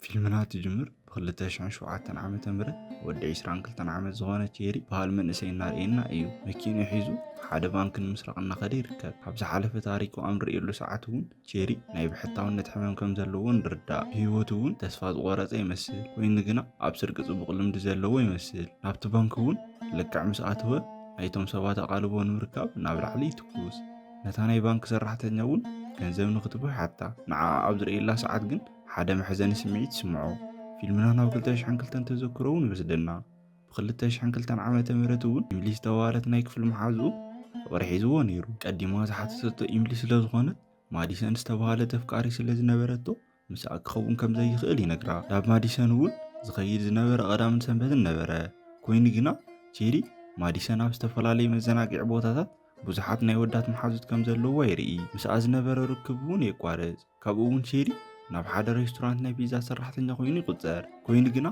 ፊልምና ትጅምር ብክልተ ሽሕን ሸውዓተን ዓመተ ምህረት ወዲ ዒስራን ክልተን ዓመት ዝኾነ ቼሪ በሃል መንእሰይ እናርእየና እዩ። መኪንኡ ሒዙ ሓደ ባንኪ ንምስራቕ እናኸደ ይርከብ። ኣብ ዝሓለፈ ታሪኩ ኣብ ንርእየሉ ሰዓት እውን ቼሪ ናይ ብሕታውነት ሕመም ከም ዘለዎ ንርዳእ። ብህይወቱ እውን ተስፋ ዝቖረጸ ይመስል። ኮይኑ ግና ኣብ ስርቂ ጽቡቕ ልምዲ ዘለዎ ይመስል። ናብቲ ባንኪ እውን ልክዕ ምስ ኣተወ ናይቶም ሰባት ኣቓልቦ ንምርካብ ናብ ላዕሊ ይትኩስ። ነታ ናይ ባንኪ ሰራሕተኛ እውን ገንዘብ ንክትቦ ይሓታ። ንዓኣ ኣብ ዝርእየላ ሰዓት ግን ሓደ መሕዘኒ ስምዒት ይስምዖ። ፊልምና ናብ 2002 ተዘክሮ እውን ይወስደና። ብ2002 ዓመተ ምህረት እውን ኢምሊ ዝተባህለት ናይ ክፍሊ መሓዝኡ ፍቕሪ ሒዝዎ ነይሩ። ቀዲማ ዝሓተተቶ ኢምሊ ስለ ዝኾነት ማዲሰን ዝተባህለ ተፍቃሪ ስለ ዝነበረቶ ምስኣ ክኸውን ከም ዘይኽእል ይነግራ። ናብ ማዲሰን እውን ዝኸይድ ዝነበረ ቀዳምን ሰንበትን ነበረ። ኮይኑ ግና ቼሪ ማዲሰን ኣብ ዝተፈላለዩ መዘናግዒ ቦታታት ብዙሓት ናይ ወዳት መሓዙት ከም ዘለዋ የርኢ። ምስኣ ዝነበረ ርክብ እውን የቋርጽ። ካብኡ እውን ቼሪ ናብ ሓደ ሬስቶራንት ናይ ፒዛ ሰራሕተኛ ኮይኑ ይቁጸር። ኮይኑ ግና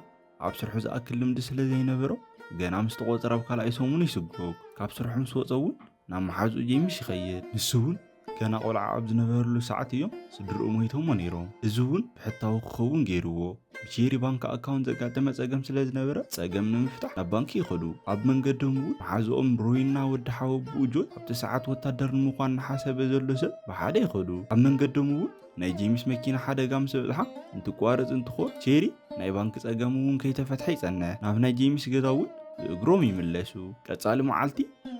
ኣብ ስርሑ ዝኣክል ልምዲ ስለ ዘይነበሮ ገና ምስ ተቖጸረ ኣብ ካልኣይ ሰሙን ይስጎግ። ካብ ስርሑ ምስ ወጸ እውን ናብ መሓዝኡ ጄምስ ይኸይድ። ንሱ እውን ገና ቆልዓ ኣብ ዝነበረሉ ሰዓት እዮም ስድርኡ ሞይቶሞ ነይሮም። እዚ እውን ብሕታዊ ክኸውን ገይርዎ። ብቼሪ ባንክ ኣካውንት ዘጋጠመ ጸገም ስለ ዝነበረ ጸገም ንምፍታሕ ናብ ባንኪ ይኸዱ ኣብ መንገዶም እውን መሓዝኦም ሮይና ወዲ ሓወብኡ ጆን ኣብቲ ሰዓት ወታደር ንምዃን ንሓሰበ ዘሎ ሰብ ብሓደ ይኸዱ ኣብ መንገዶም እውን ናይ ጄምስ መኪና ሓደጋ ምስ በጽሓ እንትቋረጽ እንትኾን ቼሪ ናይ ባንኪ ጸገም እውን ከይተፈትሐ ይጸንሕ ናብ ናይ ጄምስ ገዛ እውን ብእግሮም ይምለሱ ቀጻሊ መዓልቲ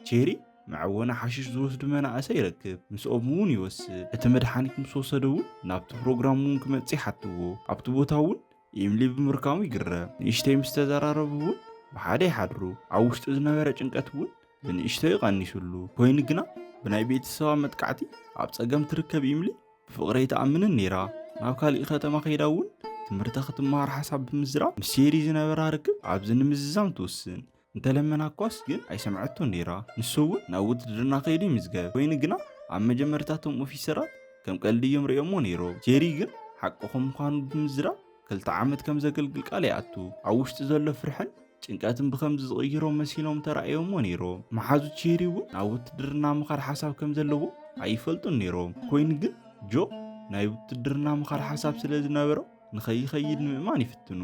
ቼሪ መዐወኒ ሓሽሽ ዝወስዱ መናእሰይ ይረክብ ምስኦም እውን ይወስድ እቲ መድሓኒት ምስ ወሰደ እውን ናብቲ ፕሮግራም እውን ክመፅእ ይሓትዎ ኣብቲ ቦታ እውን ኢምሊ ብምርካሙ ይግረም ንእሽተይ ምስ ተዘራረቡ እውን ብሓደ ይሓድሩ ኣብ ውሽጡ ዝነበረ ጭንቀት እውን ብንእሽተይ ይቐኒሱሉ ኮይኑ ግና ብናይ ቤተሰባ መጥቃዕቲ ኣብ ፀገም ትርከብ ኢምሊ ብፍቕሪ ኣይትኣምንን ነይራ ናብ ካሊእ ከተማ ከይዳ እውን ትምህርታ ክትመሃር ሓሳብ ብምዝራብ ምስ ሴሪ ዝነበራ ርክብ ኣብዚ ንምዝዛም ትውስን እንተለመናኳስ ግን ኣይሰምዐቶን ነይራ ንሱ እውን ናብ ውትድርና ከይዱ ይምዝገብ ኮይኑ ግና ኣብ መጀመርታ እቶም ኦፊሰራት ከም ቀልዲ እዮም ርእዮሞ ነይሮም ጄሪ ግን ሓቂ ከም ምዃኑ ብምዝራብ ክልተ ዓመት ከም ዘገልግል ቃል ይኣቱ ኣብ ውሽጢ ዘሎ ፍርሕን ጭንቀትን ብከምዚ ዝቕይሮ መሲሎም ተራእዮሞ ነይሮም መሓዙት ጄሪ እውን ናብ ውትድርና ምኻድ ሓሳብ ከም ዘለዎ ኣይፈልጡን ነይሮም ኮይኑ ግን ጆ ናይ ውትድርና ምኻድ ሓሳብ ስለ ዝነበሮ ንኸይኸይድ ንምእማን ይፍትኑ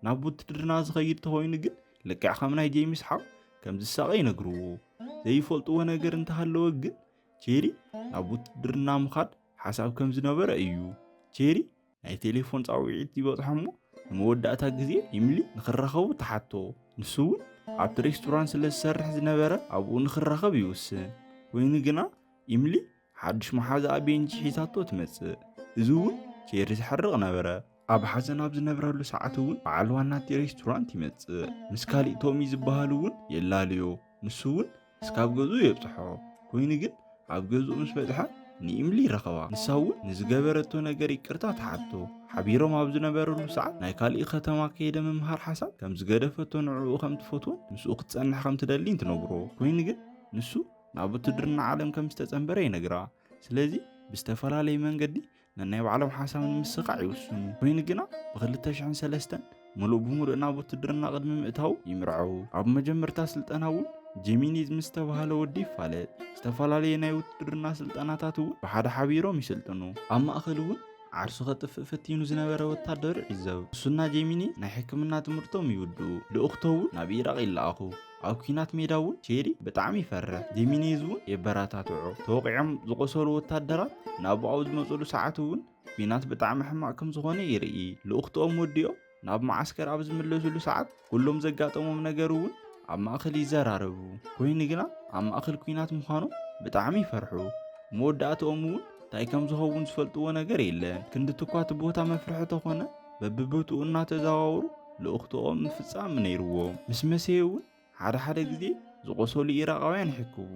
ናብ ውትድርና ዝኸይድ ተኾይኑ ግን ልክዕ ከም ናይ ጄምስ ሓው ከም ዝሳቐ ይነግርዎ። ዘይፈልጥዎ ነገር እንተሃለወ ግን ቼሪ ናብ ውትድርና ምኻድ ሓሳብ ከም ዝነበረ እዩ። ቼሪ ናይ ቴሌፎን ፃውዒት ይበፅሖ እሞ ንመወዳእታ ግዜ ኢምሊ ንክራኸቡ ተሓቶ። ንሱ እውን ኣብቲ ሬስቶራንት ስለ ዝሰርሕ ዝነበረ ኣብኡ ንክራኸብ ይውስን። ኮይኑ ግና ኢምሊ ሓድሽ መሓዛኣ ቤንጂ ሒዛቶ ትመጽእ። እዚ እውን ቼሪ ዝሐርቕ ነበረ። ኣብ ሓዘን ኣብ ዝነብረሉ ሰዓት እውን በዓል ዋናቲ ሬስቶራንት ይመጽእ። ምስ ካሊእ ቶሚ ዝበሃል እውን የላልዮ። ንሱ እውን እስካብ ገዝኡ የብጽሖ። ኮይኑ ግን ኣብ ገዝኡ ምስ በጽሐ ንኢምሊ ይረኸባ። ንሳ እውን ንዝገበረቶ ነገር ይቅርታ ትሓቶ። ሓቢሮም ኣብ ዝነበረሉ ሰዓት ናይ ካሊእ ከተማ ከይደ ምምሃር ሓሳብ ከም ዝገደፈቶ ንዕኡ ከም ትፈትዎን ምስኡ ክትጸንሕ ከም ትደሊን ትነግሮ። ኮይኑ ግን ንሱ ናብ ውትድርና ዓለም ከም ዝተጸንበረ ይነግራ ስለዚ ብዝተፈላለየ መንገዲ ነናይ ባዕሎም ሓሳብ ንምስኻዕ ይውስኑ ኮይኑ ግና ብ2003 ምሉእ ብምሉእ ናብ ውትድርና ቅድሚ ምእታው ይምርዐው ኣብ መጀመርታ ስልጠና እውን ጀሚኒዝ ምስ ተባሃለ ወዲ ይፋለጥ ዝተፈላለየ ናይ ውትድርና ስልጠናታት እውን ብሓደ ሓቢሮም ይስልጥኑ ኣብ ማእኸል እውን ዓርሱ ከጥፍእ ፈቲኑ ዝነበረ ወታደር ይዕዘብ እሱና ጀሚኒ ናይ ሕክምና ትምህርቶም ይውድኡ ልኡኽቶ እውን ናብ ኢራቕ ይለኣኹ ኣብ ኩናት ሜዳ እውን ቼሪ ብጣዕሚ ይፈርሕ ጂሚኔዝ እውን የበረታትዖ ተወቂዖም ዝቆሰሉ ወታደራት ናብኡ ኣብ ዝመፅሉ ሰዓት እውን ኩናት ብጣዕሚ ሕማቅ ከም ዝኾነ ይርኢ ልኡኽትኦም ወዲኦም ናብ መዓስከር ኣብ ዝምለስሉ ሰዓት ኩሎም ዘጋጠሞም ነገር እውን ኣብ ማእኸል ይዘራረቡ ኮይኑ ግና ኣብ ማእኸል ኩናት ምዃኖም ብጣዕሚ ይፈርሑ መወዳእትኦም እውን እንታይ ከም ዝኸውን ዝፈልጥዎ ነገር የለን ክንዲ ትኳ እቲ ቦታ መፍርሒ ተኾነ በብቦትኡ እናተዘዋወሩ ልኡኽቶኦም ምፍጻም ነይርዎ። ምስ መሰየ እውን ሓደ ሓደ ግዜ ዝቖሰሉ ኢራቓውያን ይሕክቡ።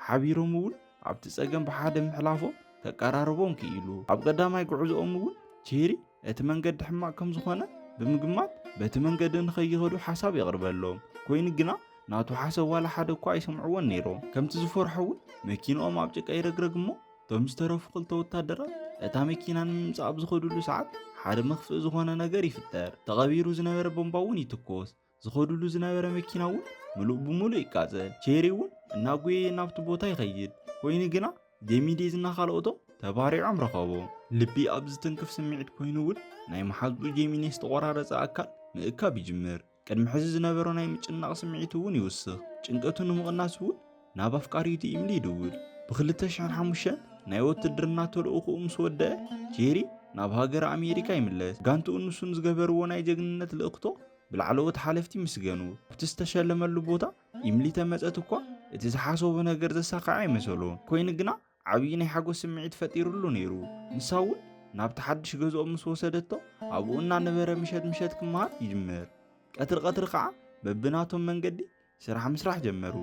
ሓቢሮም እውን ኣብቲ ጸገም ብሓደ ምሕላፎም ከቀራርቦም ክኢሉ። ኣብ ቀዳማይ ጉዕዞኦም እውን ቼሪ እቲ መንገዲ ሕማቕ ከም ዝኾነ ብምግማት በቲ መንገዲ ንኸይኸዱ ሓሳብ የቕርበሎም። ኮይኑ ግና ናቱ ሓሰብ ዋላ ሓደ እኳ ኣይሰምዕዎን ነይሮም። ከምቲ ዝፈርሖ እውን መኪንኦም ኣብ ጭቃ ይረግረግ እሞ እቶም ዝተረፉ ክልተ ወታደራት እታ መኪና ንምምፃእ ኣብ ዝኸድሉ ሰዓት ሓደ መኽፍእ ዝኾነ ነገር ይፍጠር ተቐቢሩ ዝነበረ ቦምባ እውን ይትኮስ ዝኸድሉ ዝነበረ መኪና እውን ምሉእ ብምሉእ ይቃፀል ቼሪ እውን እናጎየ ናብቲ ቦታ ይኸይድ ኮይኑ ግና ጌሚዴዝና ካልኦቶም ተባሪዖም ረኸቦ ልቢ ኣብ ዝትንክፍ ስምዒት ኮይኑ እውን ናይ መሓዝኡ ጌሚኔ ዝተቆራረፀ ኣካል ምእካብ ይጅምር ቅድሚ ሕዚ ዝነበሮ ናይ ምጭናቕ ስምዒት እውን ይውስኽ። ጭንቀቱ ንምቕናስ እውን ናብ ኣፍቃሪቱ ኢምሊ ይድውል። ብ2005 ናይ ወትድርና ተልእኹኡ ምስ ወደአ ጄሪ ናብ ሃገረ ኣሜሪካ ይምለስ። ጋንትኡን ንሱን ዝገበርዎ ናይ ጀግንነት ልእኽቶ ብላዕለዎት ሓለፍቲ ይምስገኑ። ኣብቲ ዝተሸለመሉ ቦታ ኢምሊ ተመጸት እኳ እቲ ዝሓሰቦ ነገር ዘሳኽዐ ኣይመሰሎን። ኮይኑ ግና ዓብዪ ናይ ሓጎስ ስምዒት ፈጢሩሉ ነይሩ። ንሳ እውን ናብቲ ሓድሽ ገዝኦም ምስ ወሰደቶ ኣብኡ እናነበረ ምሸት ምሸት ክመሃር ይጅምር። ቀትሪ ቀትሪ ከዓ በብናቶም መንገዲ ስራሕ ምስራሕ ጀመሩ።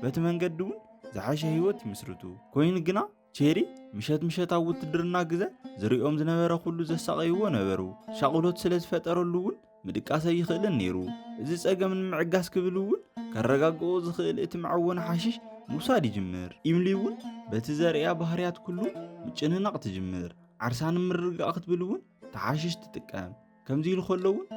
በቲ መንገዲ እውን ዝሓሸ ህይወት ይምስርቱ። ኮይኑ ግና ቼሪ ምሸት ምሸት ኣብ ውትድርና ግዘ ዝሪኦም ዝነበረ ኩሉ ዘሳቐይዎ ነበሩ። ሻቕሎት ስለ ዝፈጠረሉ እውን ምድቃስ ኣይኽእልን ነይሩ። እዚ ጸገም ንምዕጋስ ክብል እውን ከረጋግኦ ዝኽእል እቲ መዐወኒ ሓሽሽ ምውሳድ ይጅምር። ኢምሊ እውን በቲ ዘርእያ ባህርያት ኩሉ ምጭንናቕ ትጅምር። ዓርሳ ንምርግጋእ ክትብል እውን ተሓሽሽ ትጥቀም። ከምዚ ኢሉ ከሎ እውን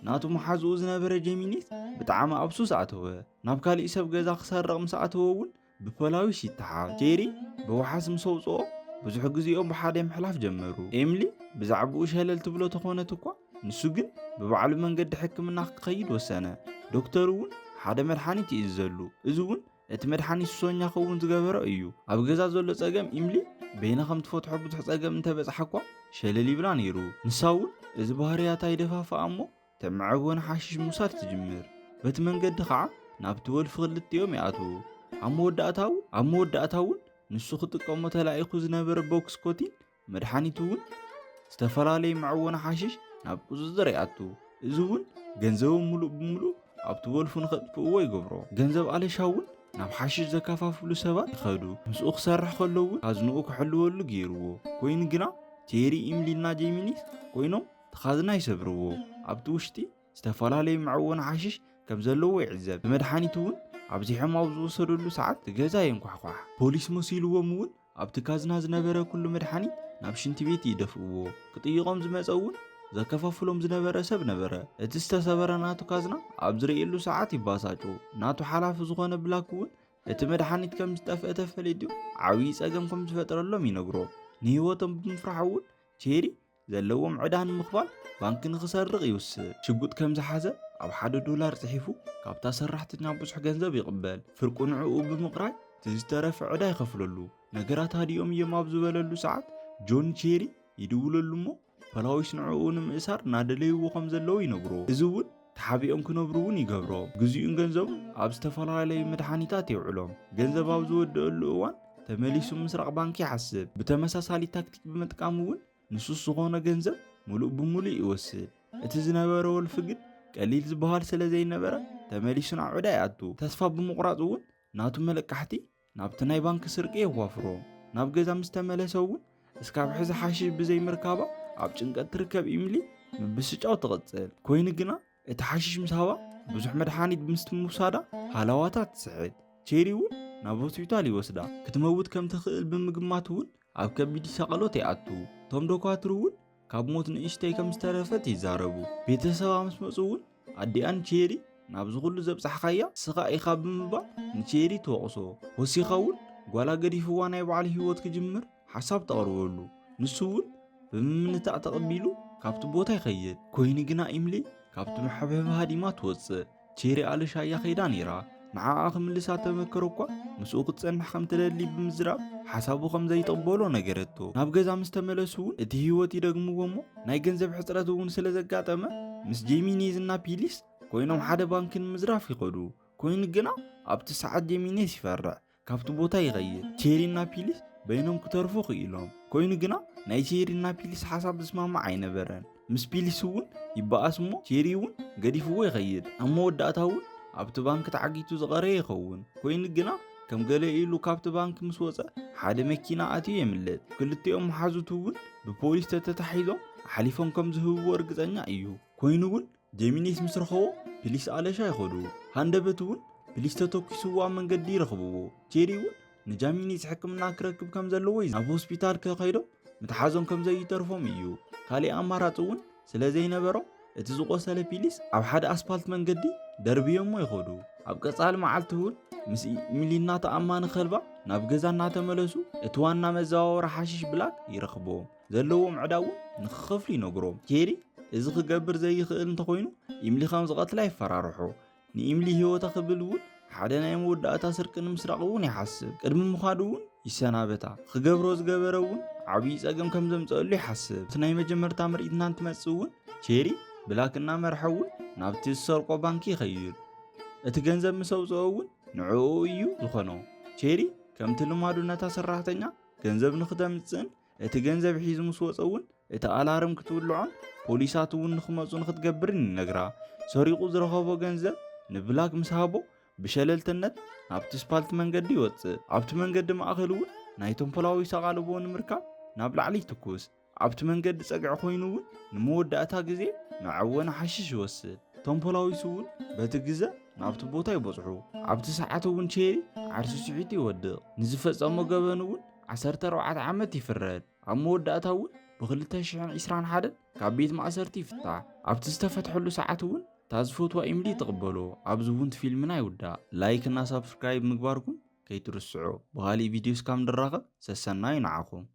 ናቱ መሓዝኡ ዝነበረ ጀሚኒስ ብጣዕሚ ኣብ ሱስ ኣተወ። ናብ ካሊእ ሰብ ገዛ ክሰርቕ ምስ ኣተወ እውን ብፖላዊስ ይተሓዝ። ጄሪ ብወሓስ ምስ ኣውጽኦ ብዙሕ ግዜኦም ብሓደ ምሕላፍ ጀመሩ። ኤምሊ ብዛዕባኡ ሸለል ትብሎ ተኾነት እኳ ንሱ ግን ብባዕሉ መንገዲ ሕክምና ክኸይድ ወሰነ። ዶክተር እውን ሓደ መድሓኒት ይእዘሉ። እዚ እውን እቲ መድሓኒት ሱሰኛ ክኸውን ዝገበሮ እዩ። ኣብ ገዛ ዘሎ ጸገም ኢምሊ በይና ከም ትፈትሖ ብዙሕ ጸገም እንተበጽሓ እኳ ሸለል ይብላ ነይሩ። ንሳ እውን እዚ ባህርያታ ይደፋፍኣ እሞ ተምዕቡን ሓሽሽ ምውሳድ ትጅምር በቲ መንገዲ ኸዓ ናብቲ ወልፊ ክልቲኦም ይኣትዉ ኣብ መወዳእታው ኣብ መወዳእታ እውን ንሱ ክጥቀሞ ተላኢኹ ዝነበረ ቦክስ ኮቲን መድሓኒት እውን ዝተፈላለዩ መዕወኒ ሓሽሽ ናብ ቁፅፅር ይኣቱ እዚ እውን ገንዘቦም ሙሉእ ብምሉእ ኣብቲ ወልፉ ንኸጥፍእዎ ይገብሮ ገንዘብ ኣለሻ እውን ናብ ሓሽሽ ዘከፋፍሉ ሰባት ይኸዱ ምስኡ ክሰርሕ ከሎ እውን ኣዝንኡ ክሕልወሉ ገይርዎ ኮይኑ ግና ቴሪ ኢምሊና ጀሚኒስ ኮይኖም ተኻዝና ይሰብርዎ። ኣብቲ ውሽጢ ዝተፈላለዩ መዐወኒ ሓሽሽ ከም ዘለዎ ይዕዘብ። ንመድሓኒት እውን ኣብዚሖም ኣብ ዝወሰደሉ ሰዓት ገዛ የንኳሕኳሕ። ፖሊስ መሲልዎም እውን ኣብቲ ካዝና ዝነበረ ኩሉ መድሓኒት ናብ ሽንቲ ቤት ይደፍእዎ። ክጥይቖም ዝመፀ እውን ዘከፋፍሎም ዝነበረ ሰብ ነበረ። እቲ ዝተሰበረ ናቱ ካዝና ኣብ ዝርእየሉ ሰዓት ይባሳጮ። ናቱ ሓላፊ ዝኾነ ብላክ እውን እቲ መድሓኒት ከም ዝጠፍአ ተፈሊጡ ዓብዪ ፀገም ከም ዝፈጥረሎም ይነግሮ። ንህይወቶም ብምፍራሕ እውን ቼሪ ዘለዎም ዕዳ ንምኽፋል ባንኪ ንኽሰርቕ ይውስን። ሽጉጥ ከም ዝሓዘ ኣብ ሓደ ዶላር ጽሒፉ ካብታ ሰራሕተኛ ብዙሕ ገንዘብ ይቕበል። ፍርቁ ንዕኡ ብምቕራይ እቲ ዝተረፈ ዕዳ ይኸፍለሉ። ነገራት ሃዲኦም እዮም ኣብ ዝበለሉ ሰዓት ጆን ቼሪ ይድውለሉ እሞ ፖላዊስ ንዕኡ ንምእሳር እናደለይዎ ከም ዘለዉ ይነግሮ። እዚ እውን ተሓቢኦም ክነብሩ እውን ይገብሮ። ግዚኡን ገንዘቡን ኣብ ዝተፈላለዩ መድሓኒታት የውዕሎ። ገንዘብ ኣብ ዝወድኣሉ እዋን ተመሊሱ ምስራቕ ባንኪ ይሓስብ። ብተመሳሳሊ ታክቲክ ብምጥቃም እውን ንሱስ ዝኾኖ ገንዘብ ሙሉእ ብሙሉእ ይወስድ። እቲ ዝነበረ ወልፊ ግን ቀሊል ዝበሃል ስለዘይነበረ ተመሊሱ ናብ ዕዳ ይኣቱ። ተስፋ ብምቑራፅ እውን ናቱ መለቃሕቲ ናብቲ ናይ ባንኪ ስርቂ የዋፍሮ። ናብ ገዛ ምስ ተመለሰ እውን እስካብ ሕዚ ሓሽሽ ብዘይምርካባ ኣብ ጭንቀት ትርከብ ኢምሊ ምብስጫው ትቕጽል። ኮይኑ ግና እቲ ሓሽሽ ምስ ሃባ ብዙሕ መድሓኒት ምስቲ ምውሳዳ ሃላዋታ ትስሕት። ቼሪ እውን ናብ ሆስፒታል ይወስዳ። ክትመውት ከም ትኽእል ብምግማት እውን ኣብ ከቢድ ሰቐሎት ይኣቱ። እቶም ዶኳትር እውን ካብ ሞት ንእሽተይ ከም ዝተረፈት ይዛረቡ። ቤተሰባ ምስ መፁ እውን ኣዲኣን ቼሪ ናብዚ ኩሉ ዘብፃሕኻያ ንስኻ ኢኻ ብምባል ንቼሪ ትወቕሶ። ወሲኻ እውን ጓላ ገዲፍዋ ናይ ባዕሉ ህይወት ክጅምር ሓሳብ ተቕርበሉ። ንሱ እውን ብምምንታእ ተቐቢሉ ካብቲ ቦታ ይኸይድ። ኮይኑ ግና ኢምሊ ካብቲ መሐብሐቢ ሃዲማ ትወፅእ። ቼሪ ኣልሻ እያ ከይዳ ነይራ ንዓኣ ክምልሳ ተመከሮ እኳ ምስኡ ክትጸንሕ ከም ትደሊ ብምዝራብ ሓሳቡ ከም ዘይጠበሎ ነገረቶ ናብ ገዛ ምስ ተመለሱ እውን እቲ ህይወት ይደግምዎ እሞ ናይ ገንዘብ ሕፅረት እውን ስለ ዘጋጠመ ምስ ጄሚኔዝ እና ፒሊስ ኮይኖም ሓደ ባንኪ ንምዝራፍ ይኸዱ ኮይኑ ግና ኣብቲ ሰዓት ጄሚኔስ ይፈርዕ ካብቲ ቦታ ይኸይድ ቼሪና ፒሊስ በይኖም ክተርፉ ክኢሎም ኮይኑ ግና ናይ ቼሪና ፒሊስ ሓሳብ ዝስማማዕ ኣይነበረን ምስ ፒሊስ እውን ይበኣስ እሞ ቼሪ እውን ገዲፍዎ ይኸይድ ኣብ መወዳእታ እውን ኣብቲ ባንኪ ተዓጊቱ ዝቐረ ይኸውን ኮይኑ ግና ከም ገለ ኢሉ ካብቲ ባንኪ ምስ ወፀ ሓደ መኪና ኣትዩ የምልጥ ክልቲኦም መሓዙቱ እውን ብፖሊስ ተተታሒዞም ሓሊፎም ከም ዝህብዎ እርግፀኛ እዩ ኮይኑ እውን ጀሚኒስ ምስ ረኸቦ ፕሊስ ኣለሻ ይኸዱ ሃንደበት እውን ፕሊስ ተተኪስዎ ኣብ መንገዲ ይረኽብዎ ቼሪ እውን ንጃሚኒስ ሕክምና ክረክብ ከም ዘለዎ እዩ ናብ ሆስፒታል ከኸይዶም ምትሓዞም ከም ዘይተርፎም እዩ ካሊእ ኣማራፂ እውን ስለ ዘይነበሮም እቲ ዝቆሰለ ፒሊስ ኣብ ሓደ ኣስፓልት መንገዲ ደርብዮሞ ይኸዱ ኣብ ቀፃሊ መዓልቲ እውን ምስ ሚሊና ተኣማኒ ከልባ ናብ ገዛ እናተመለሱ እቲ ዋና መዘዋወሪ ሓሽሽ ብላክ ይረኽብዎም ዘለዎም ዕዳ እውን ንክኸፍሉ ይነግሮም ጄሪ እዚ ክገብር ዘይኽእል እንተኾይኑ ኢምሊ ከም ዝቐትላ ይፈራርሖ ንኢምሊ ህይወታ ክብል እውን ሓደ ናይ መወዳእታ ስርቂ ንምስራቕ እውን ይሓስብ ቅድሚ ምዃዱ እውን ይሰናበታ ክገብሮ ዝገበረ እውን ዓብዪ ጸገም ከም ዘምፀአሉ ይሓስብ እቲ ናይ መጀመርታ ምርኢት እናንትመጽእ እውን ቼሪ ብላክ እናመርሐ እውን ናብቲ ዝሰርቆ ባንኪ ይኸይድ እቲ ገንዘብ ምስ ኣውፅኦ እውን ንዕኡ እዩ ዝኾኖ ቼሪ ከምቲ ልማዱ ነታ ሰራሕተኛ ገንዘብ ንክተምፅእን እቲ ገንዘብ ሒዙ ምስ ወፀ እውን እቲ ኣላርም ክትውልዖን ፖሊሳት እውን ንክመፁ ንክትገብርን ይነግራ ሰሪቑ ዝረኸቦ ገንዘብ ንብላክ ምስ ሃቦ ብሸለልተነት ናብቲ ስፓልት መንገዲ ይወፅእ ኣብቲ መንገዲ ማእኸል እውን ናይቶም ፖላዊስ ኣቓልቦ ንምርካብ ናብ ላዕሊ ይትኩስ ኣብቲ መንገዲ ፀግዒ ኮይኑ እውን ንመወዳእታ ግዜ መዐወኒ ሓሽሽ ይወስድ እቶም ፖላዊስ እውን በቲ ግዘ ናብቲ ቦታ ይበፅሑ ኣብቲ ሰዓት እውን ቼሪ ዓርሱ ስዒቱ ይወድቕ ንዝፈፀሞ ገበን እውን ዓሰርተ ኣርባዕተ ዓመት ይፍረድ። ኣብ መወዳእታ እውን ብክልተ ሽሕን ዒስራን ሓደን ካብ ቤት ማእሰርቲ ይፍታሕ። ኣብቲ ዝተፈትሐሉ ሰዓት እውን እታ ዝፈትዋ ኢምሊ ትቕበሎ። ኣብዚ እውን ፊልምና ይውዳእ። ላይክ እና ሳብስክራይብ ምግባርኩም ከይትርስዑ። ብኻሊእ ቪድዮ እስካብ ንራኸብ ሰሰናዩ ንዓኹም።